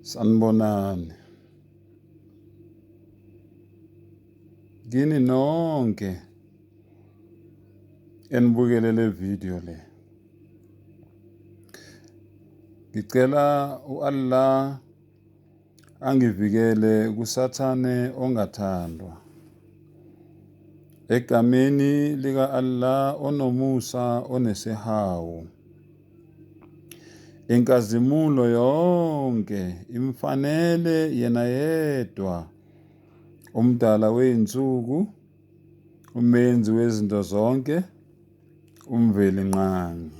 Sanibonani. Kini nonke enibukele le video le. Ngicela u-Allah angivikele kuSathane ongathandwa. Egameni lika-Allah onomusa onesihawu. Inkazimulo yonke imfanele yena yedwa umdala wey'nsuku umenzi wezinto zonke uMvelinqangi.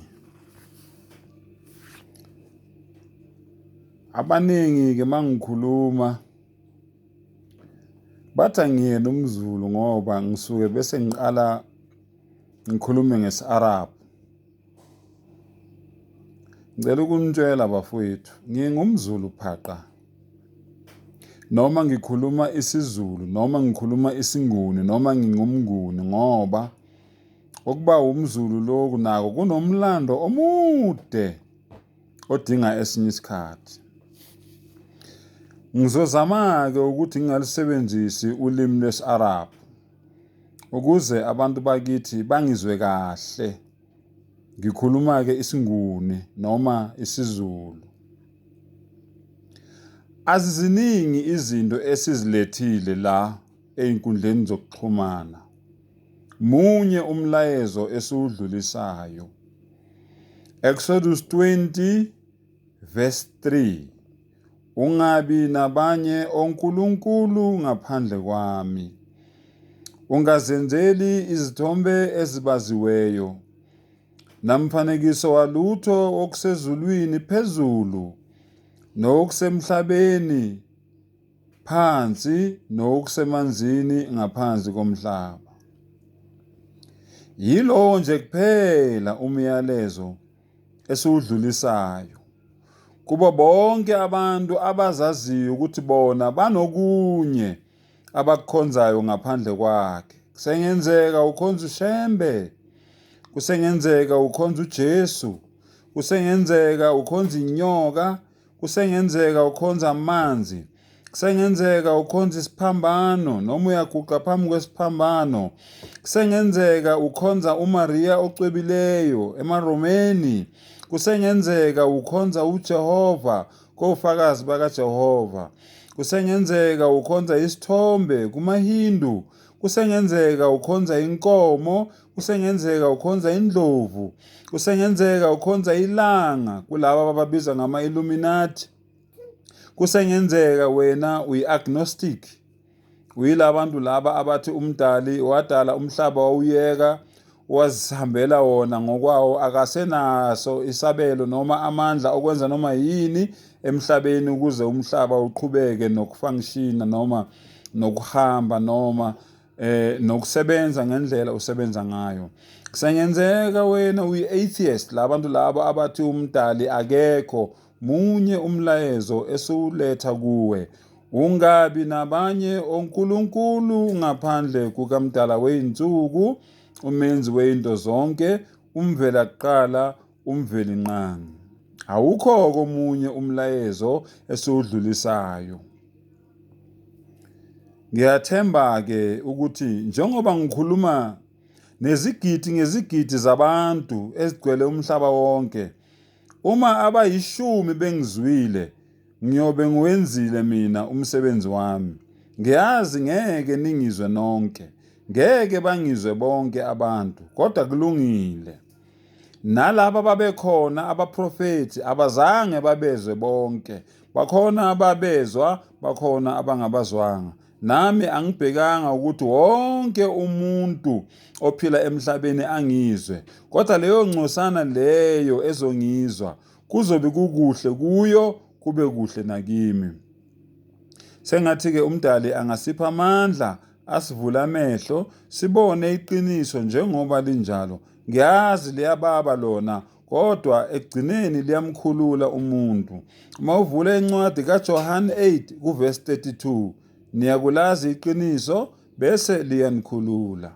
Abaningi-ke uma ngikhuluma bathi angiyena umzulu ngoba ngisuke bese ngiqala ngikhulume ngesi-arab ngicela ukunitshela bafowethu ngingumzulu phaqa noma ngikhuluma isizulu noma ngikhuluma isinguni noma ngingumnguni ngoba Ukuba wumZulu lokhu nako kunomlando omude odinga esinye isikhathi. Ngizozama-ke ukuthi ngingalisebenzisi ulimi lwesi-Arab ukuze abantu bakithi bangizwe kahle. Ngikhuluma-ke isiNguni noma isiZulu. Aziziningi izinto esizilethile la ey'nkundleni zokuxhumana. Munye umlayezo esiwudlulisayo. Exodus 20 verse 3. Ungabi nabanye onkulunkulu ngaphandle kwami. Ungazenzeli izithombe ezibaziweyo namfanekiso walutho okusezulwini phezulu nokusemhlabeni phansi nokusemanzini ngaphansi komhlaba. Yilowo nje kuphela umyalezo esiwudlulisayo kubo bonke abantu abazaziyo ukuthi bona banokunye abakukhonzayo ngaphandle kwakhe. Kusengenzeka ukhonza uShembe, kusengenzeka ukhonza uJesu, kusengenzeka ukhonza inyoka, Kusengenzeka ukhonza amanzi. Kusengenzeka ukhonza isiphambano noma uyaguqa phambi kwesiphambano. Kusengenzeka ukhonza uMariya ocwebileyo emaRomeni. Kusengenzeka ukhonza uJehova kofakazi bakaJehova. Kusengenzeka ukhonza isithombe kumaHindu. Kusengenzeka ukhonza inkomo Kusengenzeka ukhonza indlovu. Kusengenzeka ukhonza ilanga kulaba abababiza ngama-Illuminati. Kusengenzeka wena uyi-agnostic. Uyila bantu laba abathi umdali wadala umhlaba wawuyeka wazihambela wona ngokwawo akasenaso isabelo noma amandla okwenza noma yini emhlabeni ukuze umhlaba uqhubeke nokufunctiona noma nokuhamba noma eh nokusebenza ngendlela usebenza ngayo kusengenzeka wena uyi-atheist labantu labo abathi umdali akekho munye umlayezo esiwuletha kuwe ungabi nabanye onkulunkulu ngaphandle kukamdala weyinsuku umenzi weyinto zonke umvela kuqala umveli nqangi awukho komunye umlayezo esiwudlulisayo Ngiyathemba-ke ukuthi njengoba ngikhuluma nezigidi ngezigidi zabantu ezigcwele umhlaba wonke, uma abayishumi bengizwile, ngiyobe ngiwenzile mina umsebenzi wami. Ngiyazi ngeke ningizwe nonke, ngeke bangizwe bonke abantu, kodwa kulungile. Nalaba ababekhona, abaprofethi, abazange babezwe bonke. Bakhona ababezwa, bakhona abangabazwanga. Nami angibhekanga ukuthi wonke umuntu ophila emhlabeni angizwe, kodwa leyo ngcosana leyo ezongizwa, kuzobe kukuhle kuyo, kube kuhle nakimi. Sengathi-ke uMdali angasipha amandla, asivule amehlo, sibone iqiniso njengoba linjalo. Ngiyazi liyababa lona kodwa ekugcineni liyamkhulula umuntu. Uma uvula incwadi kaJohane 8 kuverse 32 niyakulazi iqiniso bese liyanikhulula.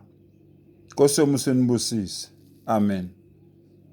Nkosi yomuso inibusise. Amen.